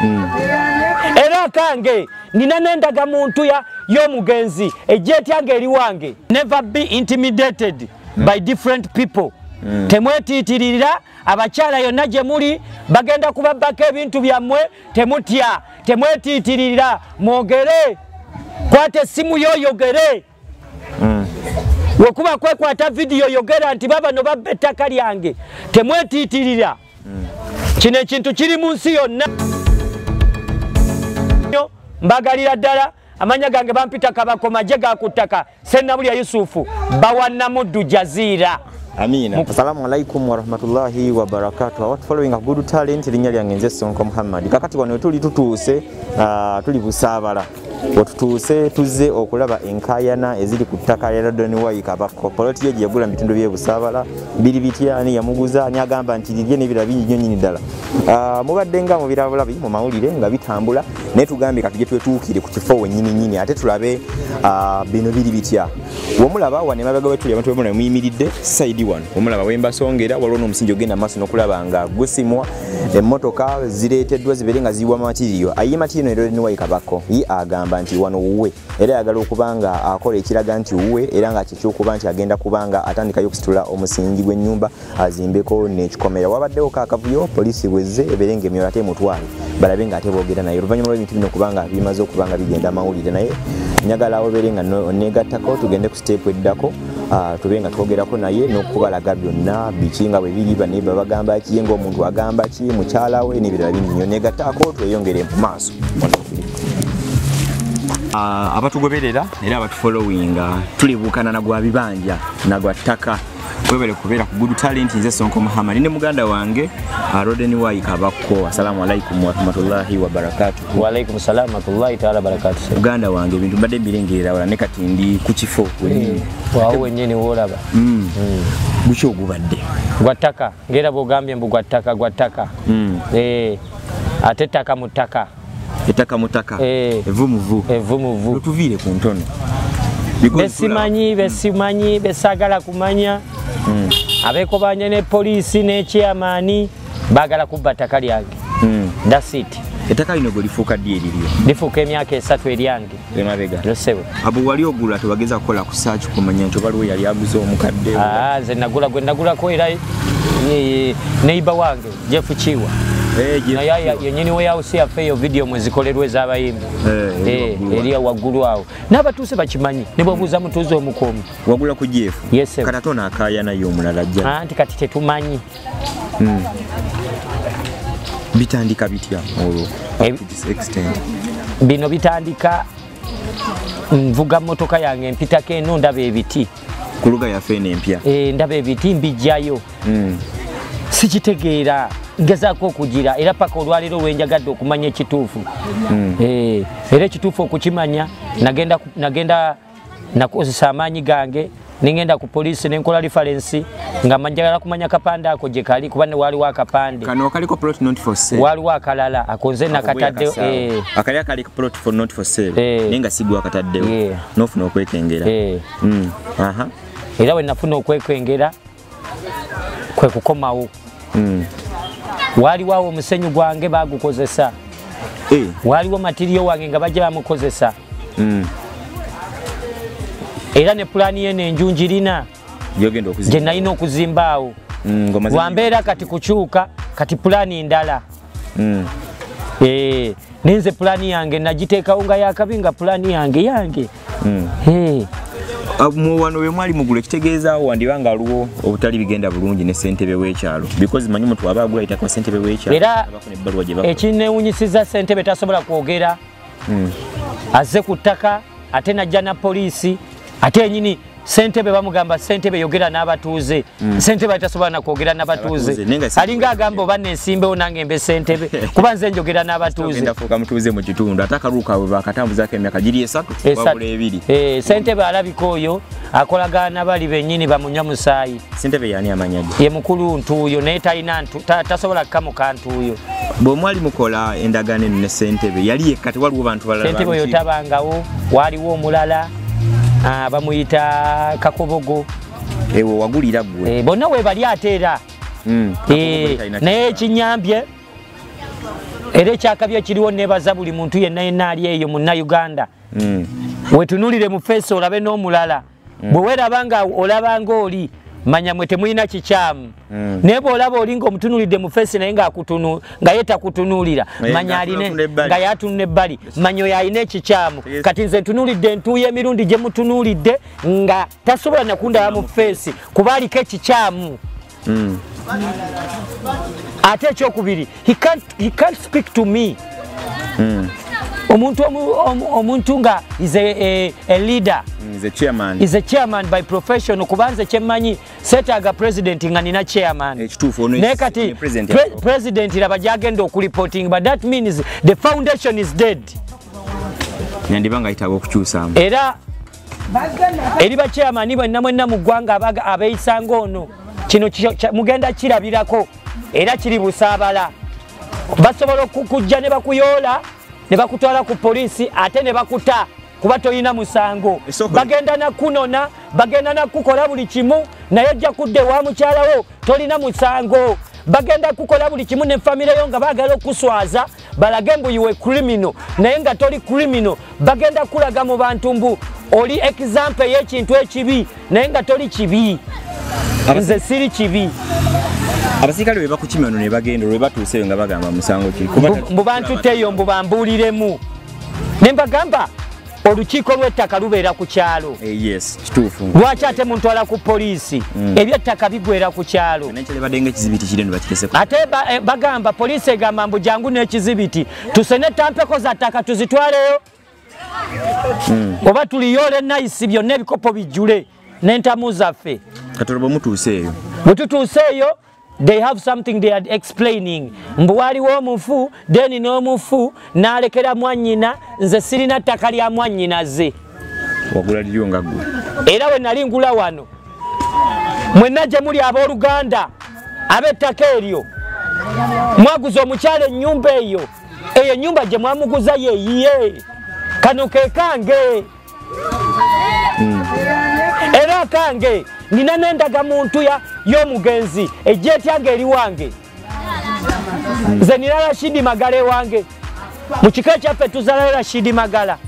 hmm. era kange nina nendaga muntu ya yomugenzi ejetyange eri wange never be intimidated mm. by different people mm. temwetiitirira abakyala yonna gye muli bagenda kubabbako ebintu byammwe temutya temwetiitirira mwogere kwata essimu yoyogere wekuba kwekwata vidiyo yogera nti babano babba ettaka lyange temwetiitirira kino ekintu kiri mu nsi yonna mbagalira ddala amanya gange bampita kabakoma je gakuttaka sennabulya yusufu bawanamuddu jaziira Amina. Assalamu alaikum warahmatullahi wabarakatuh. Our following a good talent linya lyange nze Sonko Muhammad. Kakati wano tuli tutuuse uh, tuli busabala. wetutuuse tuzze okulaba enkayana eziri ku ttaka lya radon y kabakko poloti yo gyeyagula mu bitundu byebusaabala biri bitya ani yamuguza ani agamba nti lirye nebira bingi nyo nyini ddala ah, mubadde nga mubirabulabi mu mawulire nga bitambula naye tugambye kati gye twetuukire ku kifo wenyini nyini ate tulabe ah, bino biri bitya womulaba wano emabega wetuli abantu bemuna muyimiridde saidi wano womulaba wembasongera waliwo n'omusingi ogenda maaso nokulaba nga gusimwa emmotoka zireeteddwa zibeere nga ziyiwa matiriyo aye matiriyo neroleniwayi kabako ye agamba nti wano wuwe era ayagala okuba nga akola ekiraga nti wuwe era nga kyekyokuba nti agenda kuba nga atandikayo okusitula omusingi gw'ennyumba azimbeko n'ekikomera wabaddewo ka akavuyo poliisi bwezze ebeere nga emyoyo ate emutwale balabe nga ate boogera naye oluvannyuma lw'ebintu bino okuba nga bimaze okuba nga bigenda amawulire naye njagala obeere nga negattako tugende ku siteepu eddako Ah, tube nga twogerako naye nokubalaga byonna biki nga bwebiri baneba bagamba ki nga omuntu agamba ki mukyala we nebirala bingi nyo negataako tweyongere mu maaso ah, abatugoberera era abatufollowinga tulibuukana nagwa bibanja nagwa ttaka webale kubeera ku good talent nze sonko muhammad ne muganda wange ah, roden y kabakko assalamu alaikum warahmatullahi wabarakatu Walaikum salam warahmatullahi taala barakatuh. Uganda wange bintu mbadde mbirengerera wala ne kati ndi ku kifo wenyini. Eh, Waawo wenyini wolaba. Mm. Mm. Guki ogubadde? Gwa ttaka. Ngera bwogambye mbu gwa ttaka gwa ttaka. Mm. Eh. Ate ttaka mu ttaka. Ettaka mu ttaka. Eh. Evu mu vu. Evu mu vu. Tuviire ku ntono. Besimanyi besimanyi besagala kumanya. Mm. Abekobanya ne poliisi ne chairman. bagala kubba ttaka lyange hmm. thats it ettaka lino gwe lifuuka ddi eriryo lifuuka emyaka esatu eryange emabega losebo abo wali ogula tewageza kukola ku saaki kumanya nti obaliwo yali aguze omukadde ah, nze nagula gwe nagulako era neiba wange jeff kiwa eh, naye yenyini weyawusi yaffe eyo vidiyo mwezikolerwa ezabayimbi eh, eh, eriya waggulu awo n'abatuuze bakimanyi ne bwabuuza mutuuze omukuumi wagula ku jeff kata tonaakaayanayo omulala jja anti kati tetumanyi mm. bitandika bitya olwo eh, bino bitandika nvuga motoka yange mpitako eno ndaba ebiti ku luga yaffe eno empya eh, ndaba ebiti mbijjayo mm. sikitegeera ngezaako okugira era paka olwaleero lwenjagadde okumanya ekituufu mm. eh, era ekituufu okukimanya nagenda nakozesa amaanyi gange nengenda ku poliisi nenkola referensi nga manjagala kumanya kapande ako gye kali kuba ne waaliwo akapande waaliwo akalala akonze nakataddewo eh. eh. eh. nofuna okwekengera hmm. era wenafuna okwekwengera kwe kukomawo mm. waaliwo awo omusenyu gwange bagukozesa eh. waaliwo matiriyo wange nga bajja bamukozesa mm. era ne pulaani yeno enju njirina gye nalina okuzimbaawo mm, wambeera kati kukyuka kati pulaani ndala mm. eh, nenze pulani yange nagiteekawo nga yakabi nga pulani yange yange mm. hey. Eh. Ah, muwano we mwali mugule kitegeeza wandiba nga aliwo obutali bigenda bulungi ne sentebe w'ekyalo because manyi omuntu aba agula ayitako sentebe w'ekyalo era ekinewunyisiza sentebe tasobola kwogera hmm. azze ku ttaka ate najja na poliisi ate enyini sentebe bamugamba sentebe yogera n'abatuuze mm. sentebe atasobola nakwogera nabatuuze alinga agamba oba nensimbewo nange mbe sentebe kuba nze njogera n'abatuuzefuuka mutuuze mu kitundu ate akalubu kaabwe bakatambuzako emyaka giri esatu wabula ebiri eh, sentebe alabika oyo akolagana bali benyini bamunywa musaayi sentebe yani amanyage ye mukulu ntuuyo naye talina tasobola kukamuka ntuuyo bwe mwali mukola endagaano eno ne sentebe yali yekka tewaliwo bantu balala sentebe oyo tabangawo waaliwo omulala Ah, bamuyita kakobogo ewo wagulira gwe eh, bonna webali ate era hmm, eh, naye ekinyambye era ekyakabi ekiriwo nebaza buli muntu yenna yenna ali eyo munna uganda hmm. wetunulire mu feesi olabe n'omulala hmm. bwe weraba nga olaba ngaoli manya mwe temulina kikyamu Mm. naye bwolaba olinga omutunulidde mu fesi naye nga ye takutunuulira manya aline nga yatunula ebbali manya oyo alina ekikyamu kati nze ntunulidde entuuyo emirundi gye mutunuulidde nga tasobola nakundaba mu fesi kuba aliko ekikyamu mm. ate ekyokubiri he can't speak to me mm. omuntu omuntu nga is a, a, a leader mm, is a chairman is a chairman by profession kubanze kyemmanyi setaaga president nga nina chairman eh, naye kati president laba gyagenda okureporting but that means the foundation is dead yandiba nga yetaaga okukyusamu era eri bakyamani bwenna mwenna mu ggwanga abeeyisanga ono kino mugenda kirabirako era kiri busaabala basobola okukujja ne bakuyoola ne bakutwala ku poliisi ate ne bakuta kuba tolina musango bagenda nakunona bagenda nakukola buli kimu naye ojja kudda ewa mukyalawo tolina musango bagenda kukola buli kimu ne famire yo nga bagala okuswaza balage mbu iwe krimino naye nga toli krimino bagenda kulaga mu bantu mbu oli example yekintu ekibi naye nga toli kibi nze siri kibi abasirikale bebakukima no nebagenda olwebatuuse eyo nga bagamba musango ki mbu bantutteyo mbu bambuuliremu ne mbagamba olukiiko lw'ettaka lubeera ku kyalo eh, lwaki ate muntwala ku poliisi mm. ebyettaka bigwera ku kyalo ate eh, bagamba poliisi egamba mbu jangu n'ekizibiti tusene tampeko za ttaka tuzitwaleyo hmm. oba tuliyole nayisi byonna ebikopo bijjule n'entamu zaffe katono bwe mutuuse eyo bwe tutuuse eyo they have something they are explaining mbu waliwo omufu deni n'omufu n'alekera mwannyina nze sirina ttaka lya mwannyinaze wagula liryo nga gwe era we nali ngula wano mwenna gye muli abooluganda ab'ettaka eryo mwaguza omukyala ennyumba eyo eyo enyumba gye mwamuguza yeyiye kano ke kange hmm. era kange nina nendaga muntu y'omugenzi ejja etyanga eri wange hmm. nze nina rashidi magala ewange mu kiko ekyaffe tuzalayo rashidi magala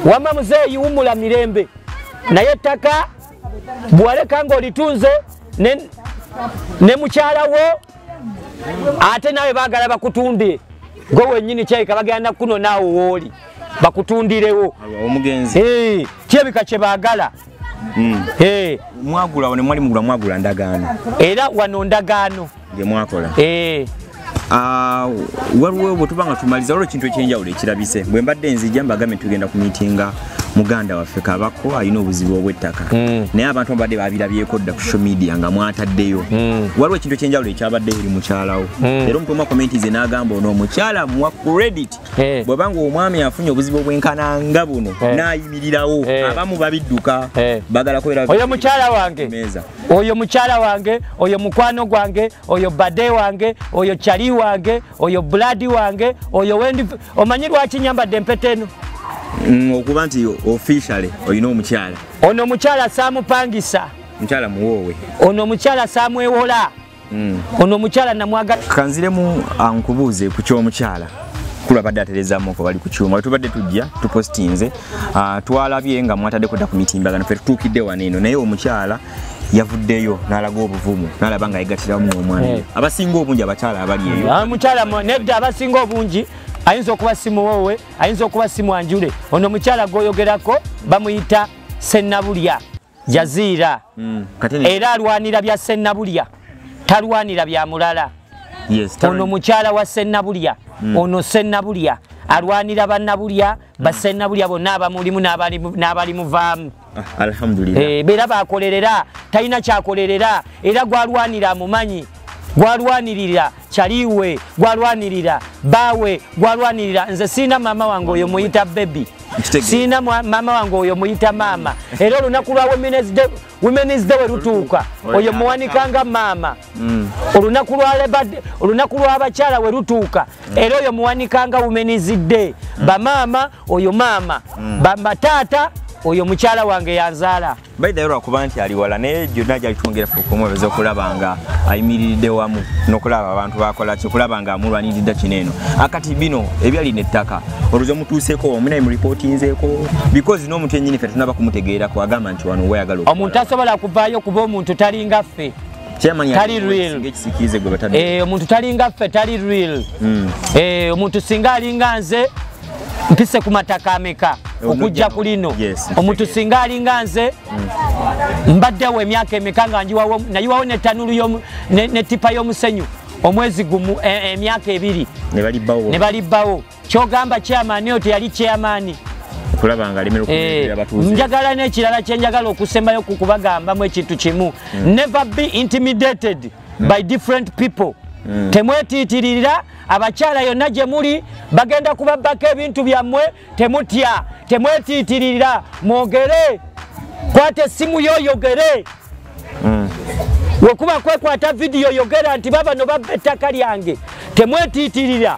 wama muzeeyi wumula mirembe naye ettaka bwaleka ng'olitunze ne mukyala wo ate nawe bagala bakutunde gwe wenyini kyayika bagenda nakunona awo wooli bakutundirewo omugenzi eh, kyebika kyebagala hmm. eh. mwagulawo nemwali mugula mwagula ndagaano era wano ndagaano gemwakola eh. ah, waliwo bwetuba nga tumaliza waliwo ekintu ekyenjawulo ekirabise bwe mbadde nzija mbagambye tugenda ku miitinga muganda waffe kabako alina obuzibu obwettaka mm. naye abantu ababadde babirabyeko dda ku social media nga mwataddeyo mm. waliwo ekintu ekyenjawulo ekyabadde eri mukyalawo mm. era omuntu omu akomenti ze n'agamba ono omukyala muwa credit eh. bweba nga omwami afunye obuzibu obwenkana nga buno eh. n'ayimirirawo eh. abamu babidduka bagala kubeeraoyo mukyala wange oyo mukyala wange oyo mukwano gwange oyo bade wange oyo cali wange oyo buladi wange oyo wendi omanyi lwaki nyambadde empeta eno mm, okuba nti officially olina omukyala ono omukyala saamupangisa mukyala muwoowe ono omukyala saamwewola mm. ono omukyala namwagala kanziremu ankubuuze ku ky'omukyala kula badde aterezamu ko bali ku kyuma tubadde tujja tupostinze ah, twalabye nga mwatadde kuda ku mitimbagano fe tutuukidde wano eno naye omukyala yavuddeyo n'alaga obuvumu n'alaba nga yegatiramu omwana eh. abasinga obungi abakyala abali eyo ah, mukyala nedda abasinga obungi ayinza okuba simuwoowe ayinza okuba simwanjule ono mukyala gwoyogerako bamuyita sennabulya jaziira hmm, era alwanira bya sennabulya talwanira bya mulala ono mukyala wa sennabulya hmm. ono sennabulya alwanira bannabulya basennabulya bonna abamulimu n'abali muvaamu ah, alhamdulillah eh bera bakolerera talina kyakolerera era gwalwanira amumanyi gwalwanirira kyaliwe gwalwanirira bawe gwalwanirira nze sirina maama wange oyo muyita bebi sirina maama wange oyo muyita maama era olunaku lwa women's day welutuuka oyo muwanikanga maama Mm. olunaku lwa lebade olunaku lwabakyala we lutuuka mm. era oyo muwanikanga wumenizidde mm. bamaama oyo maama mm. bataata oyo mukyala wange yanzaala baidayo lwakuba nti ali wala naye gyonna gyali twongera okumwebeza okulaba nga ayimiridde wamu nokulaba abantu bakola ki okulaba nga amulwaniridda kino eno akati ah, bino ebyali nettaka oluzi omutuuseko wamu naye muripotinzeeko bikozi n'omuntu enyini fe tunaba kumutegeerako agamba nti wano wayagala omuntu asobola kuvaayo kuba omuntu talinga ffe tali real eh, omuntu talinga ffe tali real hmm. eh, omuntu singa alinga nze mpise ku mataka ameka eh, okujja ku lino omuntu singa alinga nze hmm. mbaddewo emyaka emeka nga njiwawo nayiwawo netanulu netipa y'omusenyu omwezi gumu emyaka ebiri ne balibbawo kyogamba chairman oyo teyali chairman okulaba nga alemera okubeera eh, abatuuze njagala n'ekirala kye njagala okusembayo ku kubagambamu ekintu kimu hmm. never be intimidated hmm. by different people hmm. temwetiitirira abakyala yonna gye muli bagenda kubabbako ebintu byammwe temutya temwetiitirira mwogere kwata essimu yo oyogere wekuba kwekwata vidiyo yogera nti babano babba ettaka lyange temwetiitirira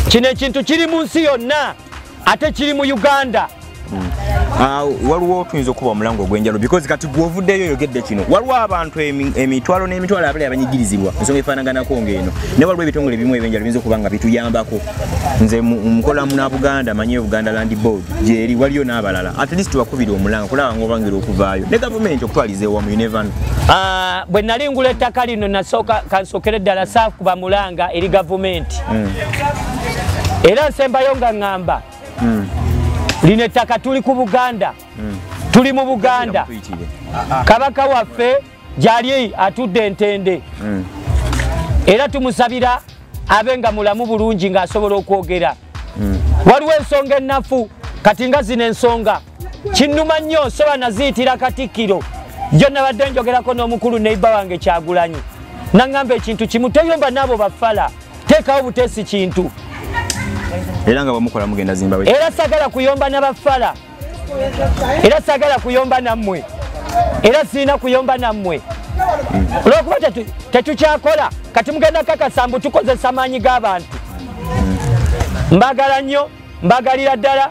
kino ekintu kiri mu nsi yonna ate kiri mu uganda hmm. ah, waliwo tuyinza okuba omulango ogwenjalo because kati gwovuddeyo oyogedde kino waliwo abantu emitwalo n'emitwalo abali abanyigirizibwa ensonga efaanaganako ngaeno ne waliwo ebitongole ebimu ebyenjalo biyinza okuba nga bituyambako nze mukola muna buganda manyi obuganda land board gyeri waliyo n'abalala at least bakubira omulanga kulaba nga obangira okuvaayo ne gavumenti okutwaliza ewamu unevano ah, bwe nali ngula ettaka lino nasooka kansookere ddala saakuba mulanga eri gavumenti mm. era nsembayo nga ŋŋamba mm. lino ettaka tuli ku buganda mm. tuli mu buganda kabaka waffe gyali atudde entende era tumusabira abe nga mulamu bulungi ng'asobola okwogera waliwo ensonga ennafu kati nga zino ensonga kinnuma nnyo nsoba naziyitira katikkiro jo nabadde njogerako n'omukulu neiba wange kyagulanyi naŋŋamba ekintu kimu toyomba naabo bafala teekawo buteesi kintu era nga bamukola mugenda zimba era sagala kuyomba nabafala era sagala kuyomba nammwe era sirina kuyomba nammwe olwokuba tetukyakola kati mugenda kakasa mbu tukozesa maanyi g'abantu mbagala nnyo mbagalira ddala